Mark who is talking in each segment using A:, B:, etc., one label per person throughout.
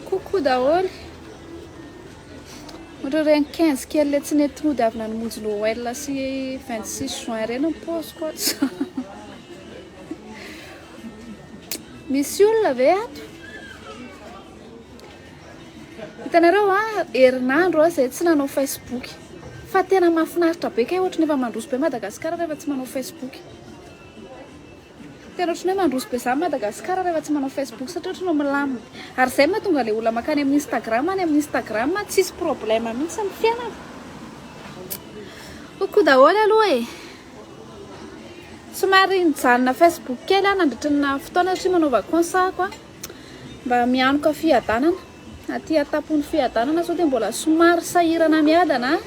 A: Coucou daholo. Ohatra hoe ny 15 kely le tsy nety nody avy nanomonjy Noël sy 26 juin ireny ny paoziko ato. Misy olona ve ato? Hitanareo a, ah, herinandro aho izay tsy nanao Facebook. Fa tena mahafinaritra be kay ohatry ny efa mandroso be Madagasikara rehefa tsy manao Facebook. Tena otrany hoe mandroso be zany Madagascar rehefa tsy manao Facebook satria otrany hoe milamina. Ary zay mahatonga le olona makany amin'ny Instagram any amin'ny Instagram tsisy problème mihitsy ny fiainana. Ho koa daholo aloha e. Somary nijanona Facebook kely aho nandritry ny naha fotoana satria manao vacance aho ko mba mianoka fiadanana. Aty an-tampon'ny fiadanana sao dia mbola somary sahirana miadana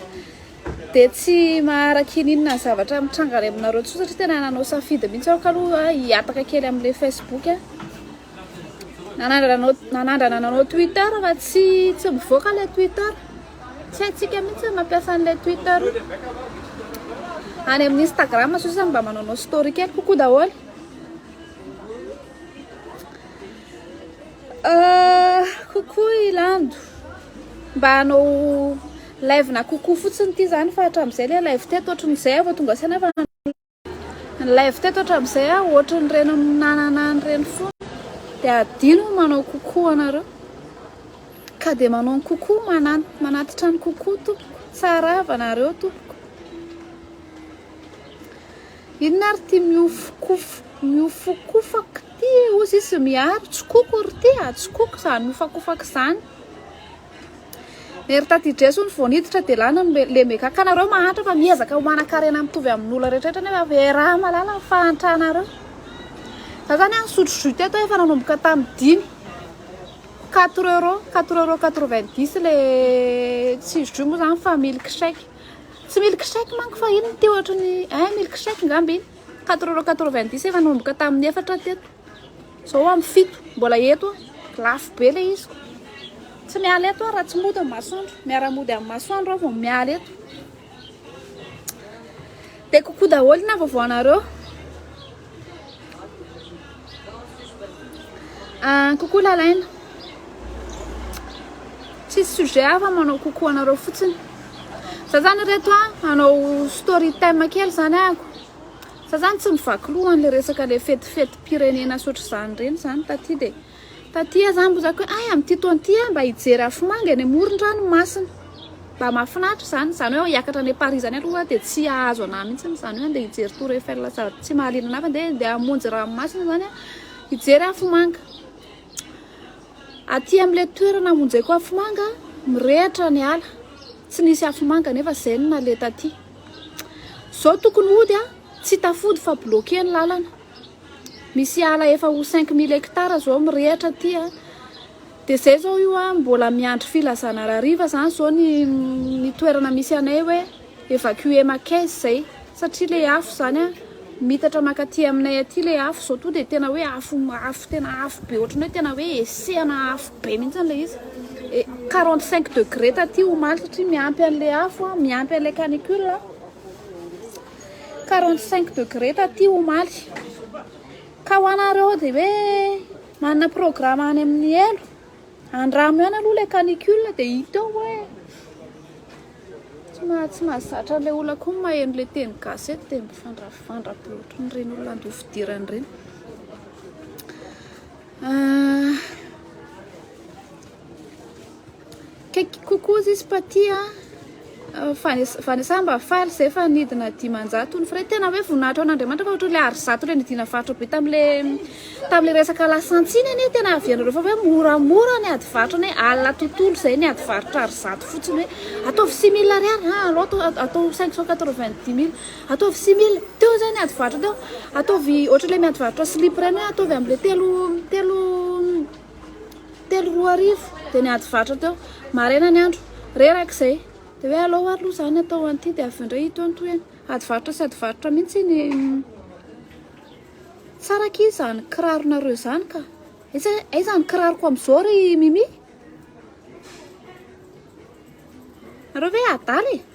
A: Dia tsy mahara kininina ny zavatra mitranga any aminareo intsony satria tena nanao safidy mihitsy aho kaloha hihataka kely amin'ilay facebook a. Nanandrana anao nanandrana anao twitter fa tsy tsy mivoaka ilay twitter. Tsy haintsika mihitsy ny mampiasa an'ilay twitter io. Any amin'ny instagram sao sisa mba manaonao story kely kokoa daholo. Coucou i Lando, mba hanao live na coucou fotsiny ity zany fa hatramin'izay ilay live teto ohatran'izay aho vao tonga saina fa ny live teto hatramin'izay aho ohatran'ireny nanana an'ireny foana dia hadino ny manao coucou anareo ka dia manao ny coucou mana- manatitra ny coucou tompoko, tsara havanareo tompoko. Inona ary ty mihofokofok mihofokofak ty e ozy izy miaro tsikoko ry ty a tsikoko zany mihofakofaka zany Ery taty Dresy hono vao niditra dia lany ny lemega ka nareo mahantra fa miezaka manan-karena mitovy amin'olona rehetrarehetra nefa ve raha malala ny fahantranareo za zany a nisotro jus teto efa nanomboka tamin'ny dimy quatre euros quatre euros quatre vingt dix le tsy jus moa zany fa milkshake Tsy milk shake manko fa inona ity ohatry ny eh milk shake ngamba iny quatre euros quatre-vingt-dix efa nanomboka tamin'ny efatra teto zao amin'ny fito mbola eto aho lafo be ilay izy tsy miala eto aho raha tsy mody amin'ny masoandro miara-mody amin'ny masoandro aho vao miala eto dia kokoa daholo na vaovao anareo Ah, coucou Lalaina. Tsisy sujet hafa manao coucou anareo fotsiny. Za zany ireto a, hanao story time kely zany ako. Za zany tsy mivaky loha an'le resaka le fetifetim-pirenena sotr'izany ireny zany taty de. Taty aho zany mbo zaka hoe hay amin'ity taona ity aho mba hijery afomanga eny amoron-dranomasina. Mba mahafinaritra izany, izany hoe hiakatra any Paris izany aloha aho dia tsy hahazo an'ahy mihitsy, izany hoe andeha hijery Tour Eiffel sady tsy mahaliana an'ahy fa andeha andeha hamonjy ranomasina izany aho hijery afomanga. Aty amin'ilay toerana hamonjeko afomanga mirehitra ny ala, tsy nisy afomanga nefa izay no naleha taty. Izao tokony hody aho, tsy tafody fa bloquer ny lalana. Misy ala efa ho cinq mille hectares zao mirehatra aty a, de zay zao io a mbola miandry filazana raha hariva zany zao ny ny toerana misy anay hoe evacuer Makes zay satria le afo zany a miitatra makaty aminay aty le afo zao to de tena hoe afo afo tena afo be ohatran'ny hoe tena hoe hesehana afo be mintsy le izy e quarante cinq degre taty omaly satria miampy anle afo a miampy anle canicule a. 45 degré taty omaly ka ho anareo dia hoe manana programme any amin'ny helo andramo ihany aloha ilay canicule dia hita eo hoe tsy mahazatra ilay olona koa ny maheno ilay teny gasy eto dia mifandravandra be ohatran'ireny olona andeha fidirana ireny ah, Kaiky kokoa zisy paty a! Vanessa Vanessa mba faly zay fa nidina dimanjato ny frais tena hoe voninahitra ho an'Andriamanitra fa ohatran'ilay ary zato ilay nidina varotra be tamle tamle resaka lasantsiny anie tena avy anareo fa hoe moramora ny ady varotra anie alina tontolo zay ny ady varotra ary zato fotsiny hoe ataovy six mille ariary ha allo atao atao cinq cent quatre vingt dix mille ataovy six mille teo zay ny ady varotra teo ataovy ohatran'ilay miady varotra slip reny hoe ataovy amle telo telo Telo roa arivo dia niady varotra teo. Maraina ny andro, reraka izay dia hoe alao ary aloha izany atao an'ity dia avy eo indray hitohy ny tohiny. Ady varotra sy ady varotra mihitsy iny. Tsara akia izany kiraronareo izany ka. Aiza aiza ny kiraroko amin'izao ry Mimi? Nareo ve adala e?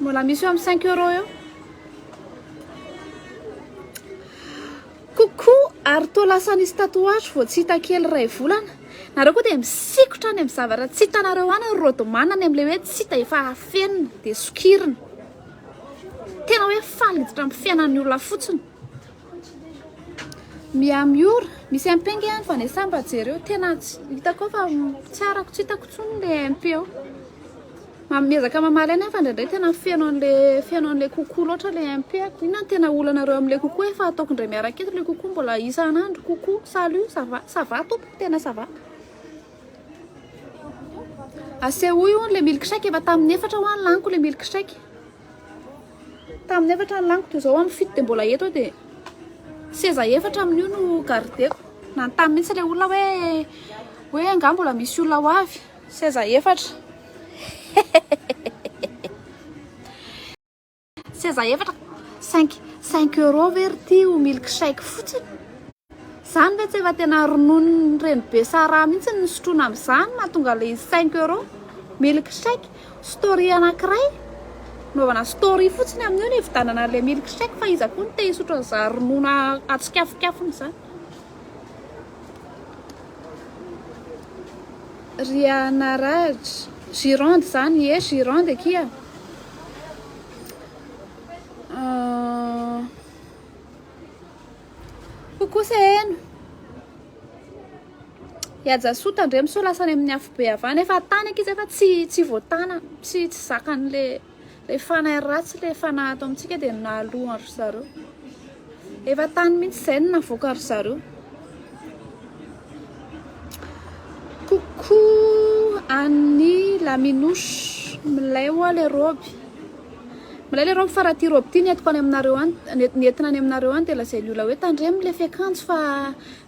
A: Mbola misy eo am cinq euros eo. Coucou, ary toa lasa nisy tatouage vao tsy hita kely iray volana. Nareo koa dia misikotra any am zavatra tsy hitanareo any ry Rodman any am le hoe tsy hita efa afenina dia sokirina. Tena hoe faly miditra am fiainan'ny olona fotsiny. Miha miora, misy MP ange any fa nesahy mba jereo, tena hitako eo fa tsy arako, tsy hitako intsony le MP eo, miezaka mamaly any aho fa indraindray tena feno anle feno anle coucou loatra le MP a, inona no tena olanareo amle coucou efa ataoko indray miaraka eto le coucou mbola isan'andro coucou, salut, ça va, ça va tompoko tena ça va, asehoy hono le milkshake efa tamin'ny efatra ho'a no laniko le milkshake. Tamin'ny efatra ny laniko dia izao amin'ny fito dia mbola eto aho dia seza efatra amin'io no gardeko. Nanontany mihitsy ilay olona hoe hoe angaha mbola misy olona ho avy. Seza efatra. Seza efatra. 5 5 euros ve ry ty ho milkshake fotsiny? Zany ve tsy efa tena ronono ny reny be sahraha mihitsy ny sotroina amin'izany mahatonga ilay izy cinq euro? Milk shake, story anakiray naovana story fotsiny amin'io ny hividanana an'ilay milk shake fa iza koa no te hisotro an'izany ronono atsikafonkafona izany? Rianaraj, Gironde izany, ie Gironde akia a. Ho kosa heno. Iajasou tandremo sao lasa any amin'ny afobe avana efa tany ankizy efa tsy tsy voatana tsy tsy zakan'le le fanahy ratsy le fanahy ato amintsika dia nalohan ry zareo efa tany mihitsy izay no navoaka ry zareo coucou an'ny laminosy milay hoa le robe Milay le robe fa raha ity robe ity ny entiko any aminareo any ny entina any aminareo any dia lazain'ny olona hoe tandremo le fiakanjo fa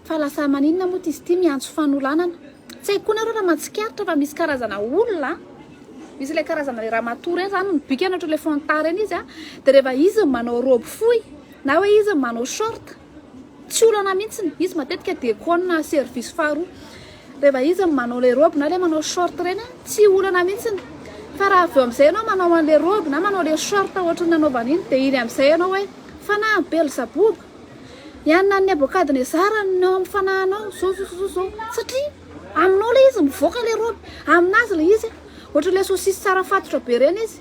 A: fa lasa maninona moa izy ity miantso fanolanana tsy haiko koa nareo raha mahatsikaritra fa misy karazana olona misy ilay karazana le ramatoa reny zany mibikana ohatran'ilay fanta reny izy a dia rehefa izy manao robe fohy na hoe izy manao short Tsy olana mihitsy izy matetika dia kona service faharoa rehefa izy ny manao ilay robe na ilay manao short ireny a, tsy olana mihitsy. Fa raha avy eo amin'izay ianao manao an'ilay robe na manao ilay short ohatry ny nanaovany iny dia iny amin'izay ianao hoe fanahy Belzaboba, i anona Nebokadnezara no ao amin'ny fanahinao, izao izao izao izao. Satria aminao ilay izy mivoaka ilay robe, aminazy ilay izy ohatry ilay saucisse tsara fatotra be ireny izy.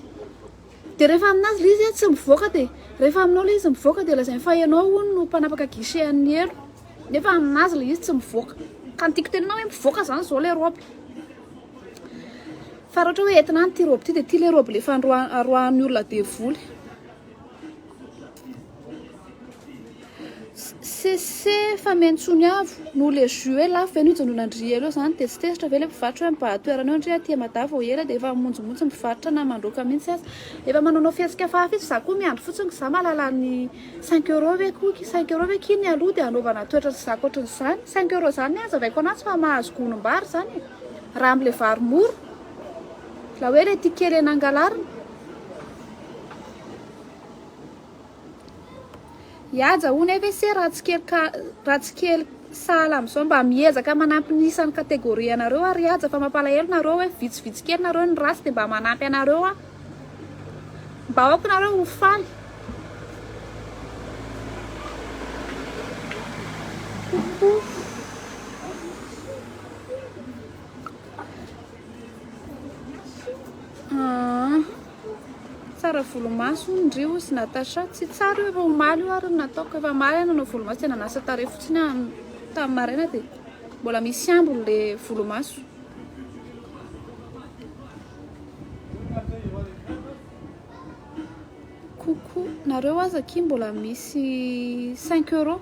A: Dia rehefa aminazy ilay izy tsy mivoaka dia rehefa aminao ilay izy mivoaka dia lazainy fa ianao hono no mpanapaka guichet an'ny helo nefa aminazy ilay izy tsy mivoaka ka ny tiako tenenana hoe mivoaka izany izao ilay robe fa raha ohatra hoe entina any ity robe ity dia ity ilay robe ilay fandroahan'ny olona devoly Cessez efa miantsony avo no le jus e lafo ve no ijanonandria eo zany de tsy tezitra ve le mpivarotra hoe mibaha toerana eo ndry aty mada vao ela de efa mimonjimotsy mivarotra na mandroaka mintsy aza efa manaonao fihetsika fa hafa izy za koa miandry fotsiny ko za mahalala ny cinq euros ve ko ki cinq euros ve ki ny aloha de anaovana toetra sy zaka ohatran'izany cinq euros zany ny azavaiko anazy fa mahazo gonom-bary zany e raha amle vary mora la hoe le tia kely eny angalarina I Haja hono ef ese raha tsy kely ka raha tsy kely sahala amin'izao mba miezaka manampy ny isan'ny catégorie anareo aho ry Haja fa mampalahelo nareo hoe vitsivitsy kely nareo ny ratsy dia mba manampy anareo aho mba aoka nareo ho faly Tsara volomaso hono ndry ozy Natacha, tsy tsara io efa omaly io ary no nataoko, efa maly aho nanao volomaso dia nanasa tarehy fotsiny aho tamin'ny maraina dia mbola misy ambiny ilay volomaso. Coucou, nareo aza akia mbola misy cinq euros,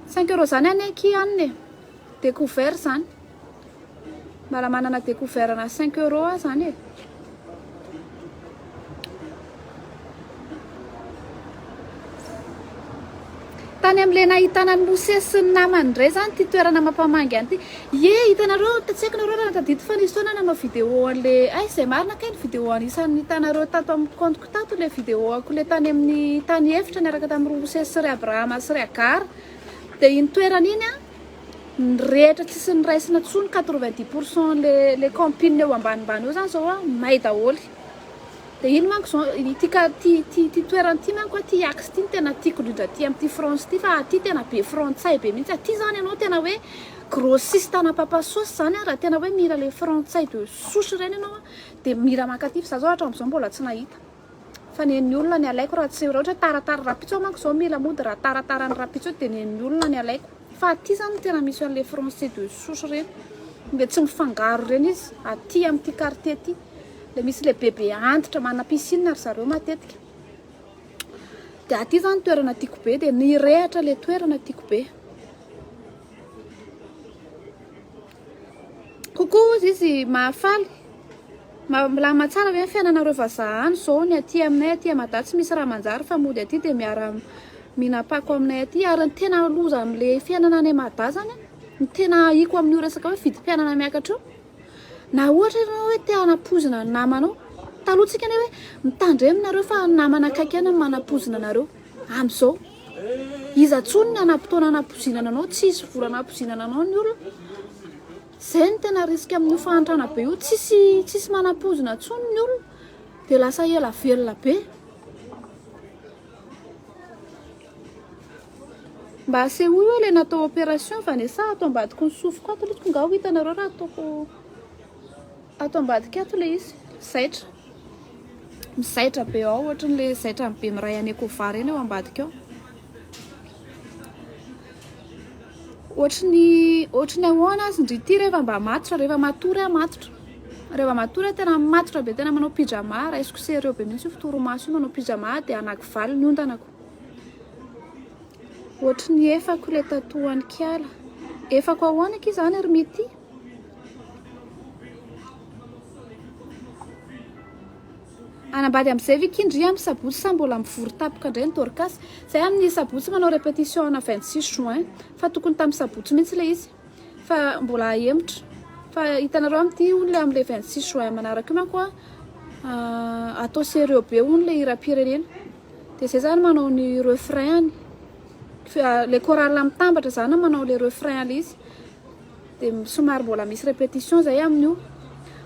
A: cinq euros zany anie akia hanina e, decouvert zany. Mala manana decouvert na cinq euros aza any e. Tany amin'ilay nahitana an'i Mosesy sy ny namany indray izany ity toerana mampamangy an'ity. Ie, hitanareo, tsy haiko nareo raha tadidy fa nisy foana aho nanao vidéo an'ilay, hay izay marina kay ny vidéo anisan'ny hitanareo tato amin'ny compte-ko tato ilay vidéo-ko ilay tany amin'ny tany efitra niaraka tamin'i Roa Mosesy sy ry Abrahama sy ry Agara. Dia iny toerana iny an, ny rehetra tsisy niraisina intsony quatre-vingt-dix pour cent le le camping eo ambanimbany eo zany zao a may daholo de iny manko zao ity ka ty ty ty toerana ty manko a ty axe ty no tena tiako indrindra aty amin'ity France ty fa aty tena be frantsay be mihitsy aty zany ianao tena hoe grossiste ana papa sauce zany a raha tena hoe mila le frantsay de souche reny ianao a de mila mankaty fa za zao hatram'izao mbola tsy nahita Fa nen'ny olona ny alaiko raha tsy raha ohatra hoe taratara rapitso aho manko zao mila mody raha taratara ny rapitso dia nen'ny olona ny alaiko fa aty zany no tena misy an'le français de souche ireny dia tsy mifangaro ireny izy aty amin'ity quartier ity le misy le bebe antitra mana piscine ry zareo matetika dia aty zany toerana tiako be dia nirehatra le toerana tiako be Kokoa hozy izy mahafaly. Milamina tsara ve ny fiainanareo vazaha any izao? Ny aty aminay aty Mada tsy misy raha manjary fa mody aty dia miara mihinam-pako aminay aty ary ny tena loza amin'le fiainana any Mada zany ny tena ahiko amin'io resaka hoe vidim-piainana miakatra io na ohatra ianao hoe te hanapoizina ny namanao taloha tsika anie hoe mitandrema nareo fa ny namana akaiky ihany no manapoizina anareo amin'izao Iza tsony ny hanampotoana hanapozinana anao tsisy vola hanapozinana anao ny olona zay no tena risque amin'io fahantrana be io tsisy tsisy manapozina tsony ny olona de lasa ela velona be mba asehoy hoe le natao opération vanessa ato ambadiko ny sofiko ato litsiko nga ho hitanareo raha ataoko ato ambadika ato le izy zaitra Mizaitra be ao ohatriny le zaitra ny be miray any Ecova ireny eo ambadika ao. Ohatriny ohatriny ahoana azy ndry ity rehefa mba matotra rehefa matory aho matotra. Rehefa matory aho tena matotra be tena manao pyjama raisiko sérieux be mihitsy io fitorimaso io manao pyjama aho dia anaky valo ny ontanako. Ohatriny efako le tatohan'Ikala. Efako ahoana akia izany ry Mity? Hanambady amin'izay ve kin dry amin'ny sabotsy sa mbola mivory tampoka indray ny Dorcas? Izahay amin'ny sabotsy manao répétition ana 26 juin fa tokony tamin'ny sabotsy mihitsy ilay izy fa mbola ahemotra fa hitanareo amin'ity hono ilay amin'ilay 26 juin manaraka io manko an atao sérieux be hono ilay hiram-pirenena dia izay izany manao ny refrain-ny ilay chorale mitambatra izany manao ilay refrain ilay izy Dia somary mbola misy repetition zay amin'io.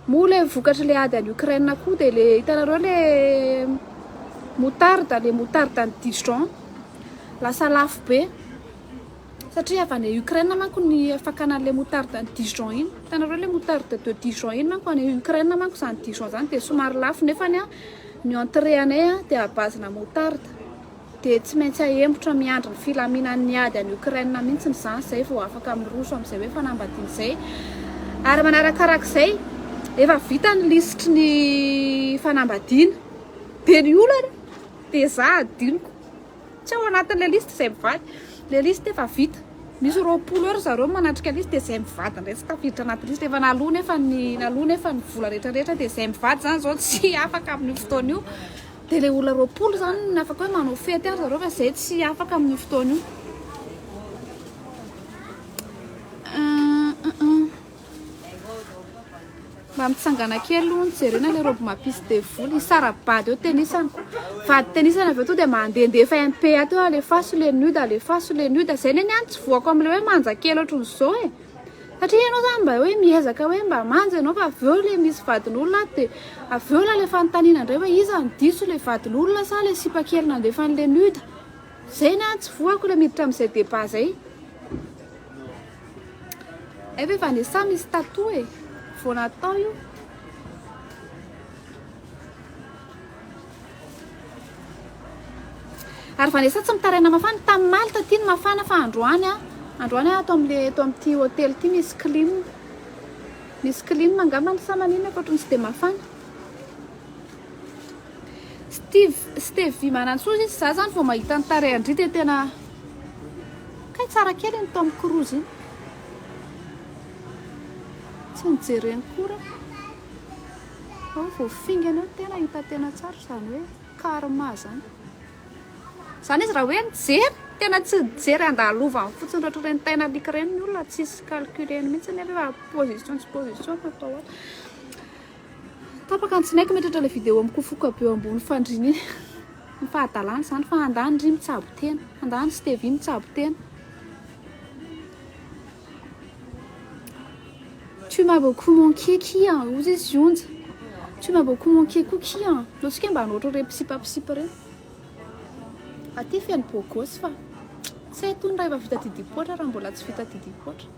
A: Moa le vokatry le ady any Ukraine koa dia le hitanareo le moutarde, le moutarde any Dijon lasa lafo be satria avy any Ukraine manko ny fakana an'le moutarde any Dijon iny. Hitanareo le moutarde de Dijon iny manko any Ukraine manko zany Dijon zany dia somary lafo nefany ny entrée anay dia à base-na moutarde. dia tsy maintsy ahembotra miandry ny filaminan'ny ady any Ukraine mihitsiny izany izay vao afaka miroso amin'izay hoe fanambadiana izay ary manarakarak'izay efa vita ny lisitry ny fanambadiana dia ny olana dia za adinoko tsy ao anatin'ilay listy izay mivady le listy efa vita misy roapolo eo ry zareo manatrika listy dia izay mivady indray tsy tafiditra anaty listy efa naloa nefa ny naloa nefa ny vola rehetra rehetra dia izay mivady izany izao tsy afaka amin'io fotoana io Dia ilay olona roapolo izany no afaka hoe manao fety ary zareo fa izay tsy afaka amin'io fotoana io. Mba mitsangana kely aloha ny jerena ilay robe mapisy devoly, hisara-bady eo tenisana. Vady tenisana avy eo tonga dia mandehandefa MPA teo, alefaso le nude, alefaso le nude. Izay ny ahy ny tsy voako amin'ilay hoe manja kely ohatran'izao e. Satria ianao izany mba hoe miezaka hoe mba manja ianao fa avy eo ilay misy vadin'olona ato dia avy eo ilay fanontaniana indray hoe iza no diso ilay vadin'olona sa ilay sipa kely nandefan'i Lenuda? Izay ny ahy tsy voako ilay miditra amin'izay débat izay. Efa eh, Vanessa misy tatou eh, vao natao io. Ary Vanessa tsy mitaraina mafana, tany Malte aty ny mafana fa androany a, androany a ato amle eto amty hotely ty misy clim, misy clim angambany sa manina akoatran'ny tsy de mafana. Steve, Stevie Manantsoa izy, za zany vao mahita ny tarehin-dry dia tena kay tsara kely iny Tom Cruise iny. Tsy nijereny koa rah. Fa vao fingana eo tena hita tena tsara izany hoe karma izany. Izany izy raha hoe nijery, tena tsy nijery andalovany fotsiny ohatra ireny tain'alika ireny ny olona tsisy calcul-ny mihitsy nefa efa position tsy position no atao ato. Tapaka ny tsinay mitratra ilay vidéo mikofoka be eo ambony fandriana iny. Ny fahadalana izany fa handany ry mitsabo tena, handany Stevie mitsabo tena. Tu m'as beaucoup manqué kia an, hoy izy Zionja. Tu m'as beaucoup manqué koa kia an. Ataontsika hoe mba hanao ohatr'ireny mpisipapisipa ireny. Aty feno beau gosse fa tsy hay tony raha efa vita didim-poatra raha mbola tsy vita didim-poatra.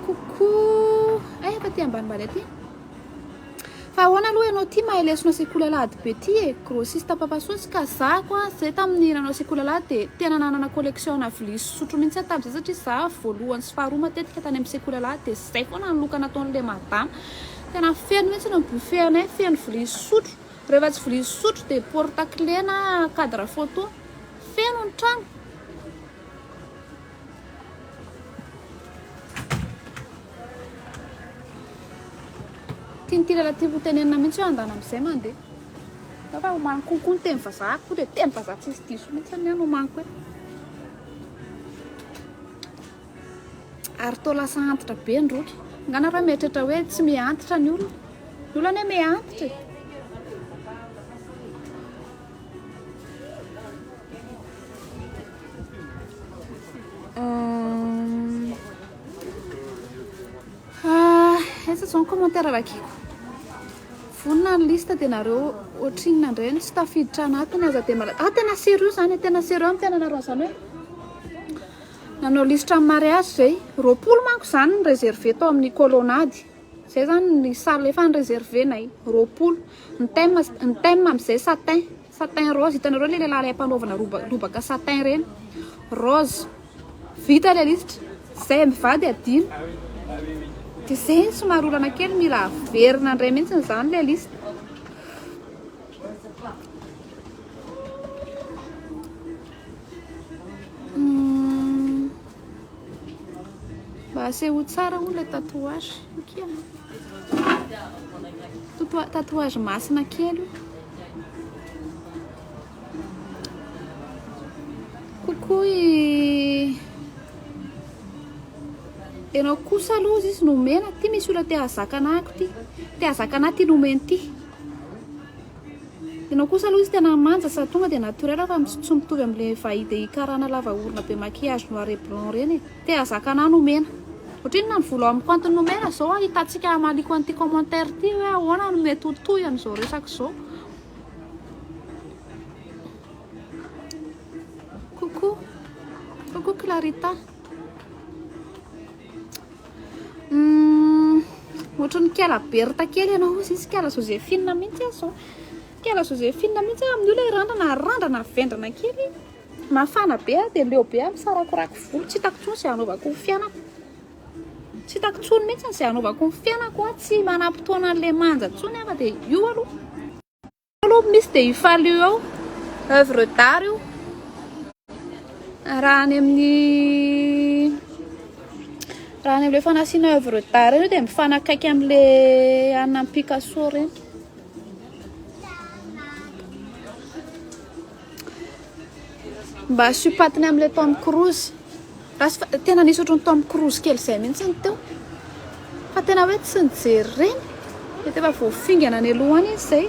A: Coucou! Eh, efa aty ambanimbany aty. Fa ahoana aloha ianao ity mahay lesona sekoly alahady be ity e! Grossiste papa sosy ka zah ko an! Zay tamin'ny nanao sekoly alahady dia tena nanana collection ana vilia sy sotro mihintsy aho tamin'izay satria zah voalohany sy faharoa matetika tany amin'ny sekoly alahady dia zay foana ny loka nataon'ilay madama. Tena feno mihintsy ny buffet anay feno vilia sy sotro. Rehefa tsy vilia sy sotro dia porte clé na cadre photo. Feno ny trano. Tian'ity lehilahy ity hotenenina mihitsy hoe andana amin'izay mandeha. Fa fa omaly konko ny teny vazaha koa dia teny vazaha tsy misy diso mihitsy ny any omaly koa. Ary toa lasa antitra be ny roky. Ngana raha mieritreritra hoe tsy mihantitra ny olona. Ny olona anie mihantitra e. Aiza zao ny commentaire vakiko vonona ny liste dia nareo ohatrinona indray no tsy tafiditra anatiny aza dia mala ah tena sérieux zany tena sérieux amin'ny fiainanareo an'izany hoe nanao liste amin'ny mariage zay roapolo manko zany ny réservé tao amin'ny kolonady zay zany ny salle efa ny réservé nay roapolo Ny thème, ny thème amin'izay satin, satin rose, hitanareo ilay lehilahy ilay mpanaovana roba, lobaka satin ireny, rose, vita ilay lisitra, izay mivady adino, dia izay ny somary olana kely, mila averina indray mihitsy izany ilay lisitra. Mba asehoy tsara hono ilay tatouage. Okia. Totoa- Tatouage masina kely io. Coucou i Ianao kosa aloha izy izy nomena. Ty misy olona te hahazaka anah ko ty. Te hahazaka anah ty nomeny ty. Ianao kosa aloha izy tena manja sady tonga dia naturel fa tsy mitovy amin'ilay vaidei karana lava orona be maquillage noir et blanc ireny e! Te hazaka anah no mena. Otrinona ny volo ao amiko antony nomena zao a hitantsika hamaliko an'ity commentaire ity hoe ahoana no mety ho toy an'izao resaka izao. Coucou, coucou Clarita. Humm ohatran'i Kela Bertha kely ianao hozy izy Kela Josephine mihitsy aho zao Kela Josephine mihitsy aho amin'io ilay randrana randrana vendrana kely mafana be aho dia leo be aho misarakorako volo tsy hitako intsony izay hanaovako ny fiainako tsy hitako intsony mihitsy izay hanaovako ny fiainako tsy manam-potoana an'ilay manja intsony aho fa dia io aloha Aloha misy dia io faly io ao oeuvre d'art io raha any amin'ny raha any amin'ilay fanasiana oeuvre d'art io dia mifanakaiky amin'ilay an'ny Picasso ireny. Mba asio patiny amle Tom Cruise rasy fa tena nisy ohatran'ny Tom Cruise kely izay mihitsy ny teo fa tena hoe tsy nijery ireny mety efa voafingana any aloha any izy izay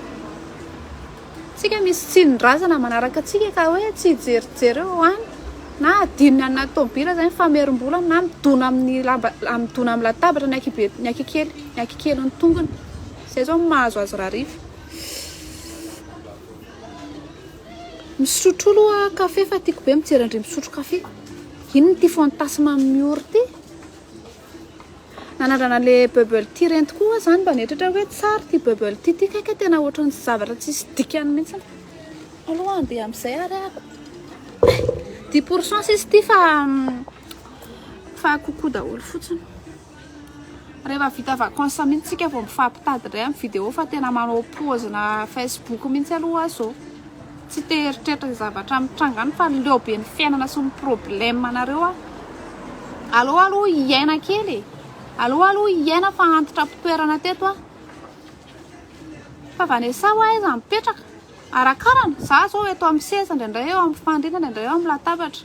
A: tsika misy tsindrin-drazana manaraka antsika ka hoe tsy hijerijery eo any na adinony any anaty tomobil aza ny famerim-bola na midona amin'ny lamba midona amin'ny latabatra ny ankihibe ny ankikely ny ankikelin'ny tongony izay izao no mahazo azy rahariva Misotro aloha kafe fa tiako be mijery an-dry misotro kafe. Iny ity fantasme amin'ny ora ity. Nanandrana le bubble tea ireny tokoa aho izany mba nieritreritra hoe tsara ity bubble tea ity kay ka tena ohatran'ny zavatra tsisy dikany mihitsy. Aloha andeha amin'izay ary aho. Dix pour cent sisa ity fa fa coucou daholo fotsiny. Rehefa vita vacances mihitsy tsika vao mifampitady indray amin'ny vidéo fa tena manao pause na Facebook mihitsy aloha aho zao tsy te hieritreritra izay zavatra mitranga any fa leo be ny fiainana sy ny problème anareo aho. Aleo aloha hiaina kely e. Aleo aloha hiaina fa antitra am-pitoerana teto aho. Fa Vanessa ho aiza mipetraka? Arakarana, za zao eto amin'ny seza indraindray eo amin'ny fandriana indraindray eo amin'ny latabatra.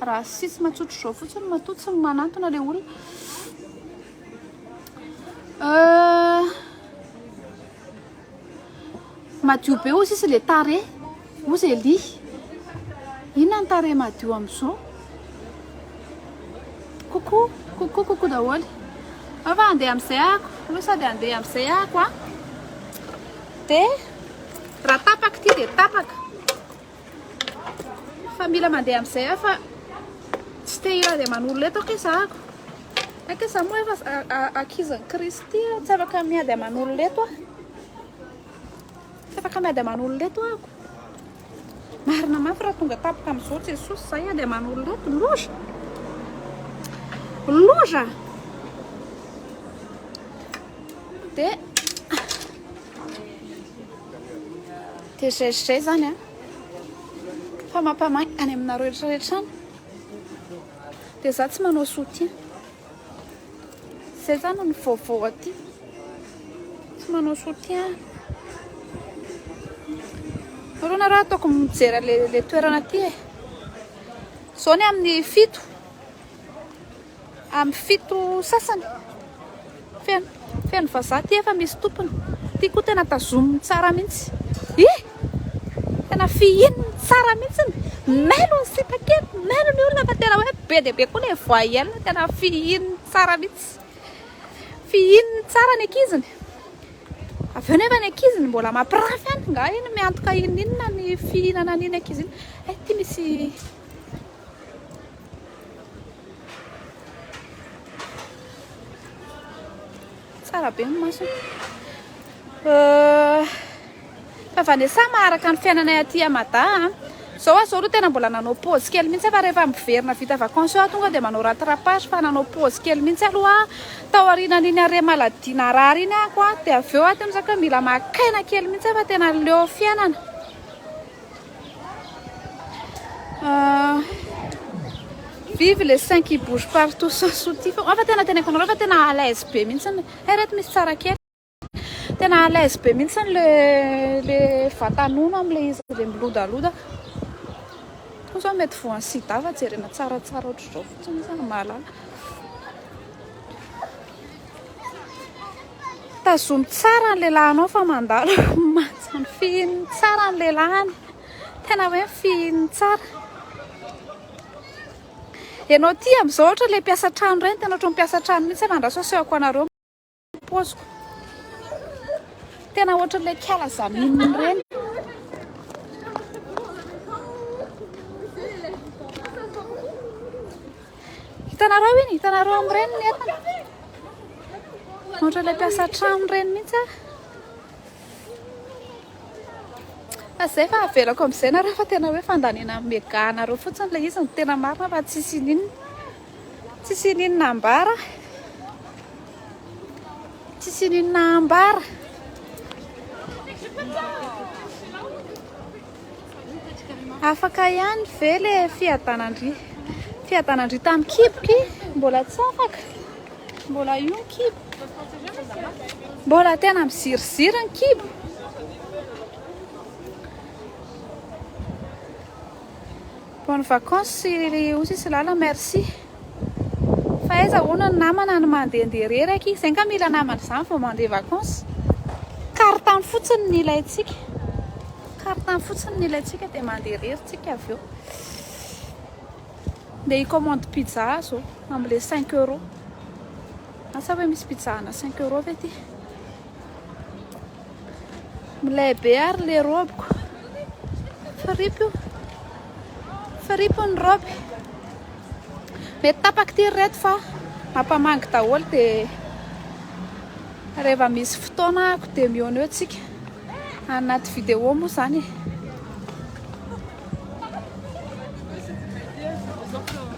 A: Racisme tsotra izao fotsiny matoa tsy manantona ilay olona. Euh, madio be ozy izy le tare ozy eli inona ny tare madio am'izao koko koko koko daholo afa andeha am'izay ako aloha sady andeha am'izay ako a de raha tapaka ity de tapaka Fa mila mandeha amin'izay aho fa tsy te hila dia manolo eto aho za ako. Ake za moa efa ankizin'i Kristy aho, tsy afaka miady aman'olona eto aho. Tsy afaka miady aman'olona eto ako. Marina mafy raha tonga tampoka amin'izao Jesosy za hiady aman'olona eto, loza. Loza. Dia Dia zay sy zay zany an! Fa mampamain any aminareo rehetra rehetra any! Dia za tsy manao soutien! Zay zany ny vaovao aty! Tsy manao soutien! Nareo nareo ataoko mijery le le toerana aty e! Zao ny amin'ny fito! Amin'ny fito sasany. Feno, feno vazaha ty efa misy tompony. Ty koa tena tazominy tsara mihitsy. Hi! Tena fihiny tsara mihitsy. Mailo ny sipa kely, mailo ny olona fa tena hoe be dia be koa ilay voyelle, tena fihiny tsara mihitsy. Fihiny tsara ny ankiziny. Avy eo nefa ny ankiziny mbola mampirafy any, nga iny miantoka iny inona ny fihinana an'iny ankizy iny. Eh, ty misy Tsara be ny maso. Euh, fa Vanessa maharaka ny fiainanay aty à Mada. Hein. Zao aho zao aloha tena mbola nanao pause kely mihitsy fa rehefa miverina vita vacances aho tonga dia manao rattrapage fa nanao pause kely mihitsy aloha tao aorianan'iny arrêt maladie narary iny ako dia avy eo aho tena mila maka aina kely mihitsy fa tena leo fiainana Ah, vive les seins qui bougent partout sans soutien fa ah, fa tena teneniko anareo fa tena à l'aise be mihitsy ny eh reto misy tsara kely tena à l'aise be mihitsy ny le le vatanono amle izy le milodaloda ho zao mety voan'ny sida fa jerena tsaratsara ohatr'izao fotsiny zany mahalala Tazomy tsara ny lehilahinao fa mandalo manja ny fihiny tsara ny lehilahiny. Tena hoe ny fihiny tsara. Ianao ty amin'izao ohatra ilay mpiasa trano ireny tena ohatran'ny mpiasa trano mihitsy aho andraso asehoko anareo paoziko. Tena ohatran'ilay kiala zaminina ireny. Hitanareo iny, hitanareo amin'ireny ny entana. Ohatran'ilay mpiasa an-trano ireny mihitsy aho. Fa izay fa avelako amin'izay na raha fa tena hoe fandaniana amin'ny mega anareo fotsiny ilay izy no tena marina fa tsy sininina. Tsy sininina ambara. Tsy sininina ambara. Afaka ihany ve le fiadanan-dry? Fiadanan-dry tamin'ny kiboky? Mbola tsy afaka? Mbola io ny kibo? Mbola tena miziriziry ny kibo? Bonne vacance ry Osy sy Lala merci fa aiza hono ny namana no mandehandeha reraky, izay nga mila namana izany vao mandeha vacance, carte fotsiny no ilaintsika, carte fotsiny no ilaintsika dia mandeha irery tsika avy eo, ndeha hi-commande pizza aho zao amle cinq euros, asa hoe misy pizza ana cinq euros ve ty? Milay be ary le robe ko. Fripy io. Fripy io ny robe. Mety tapaka ty reto fa mampamangy daholo de rehefa misy fotoana ako de mihaona eo tsika. Anaty vidéo moa zany e.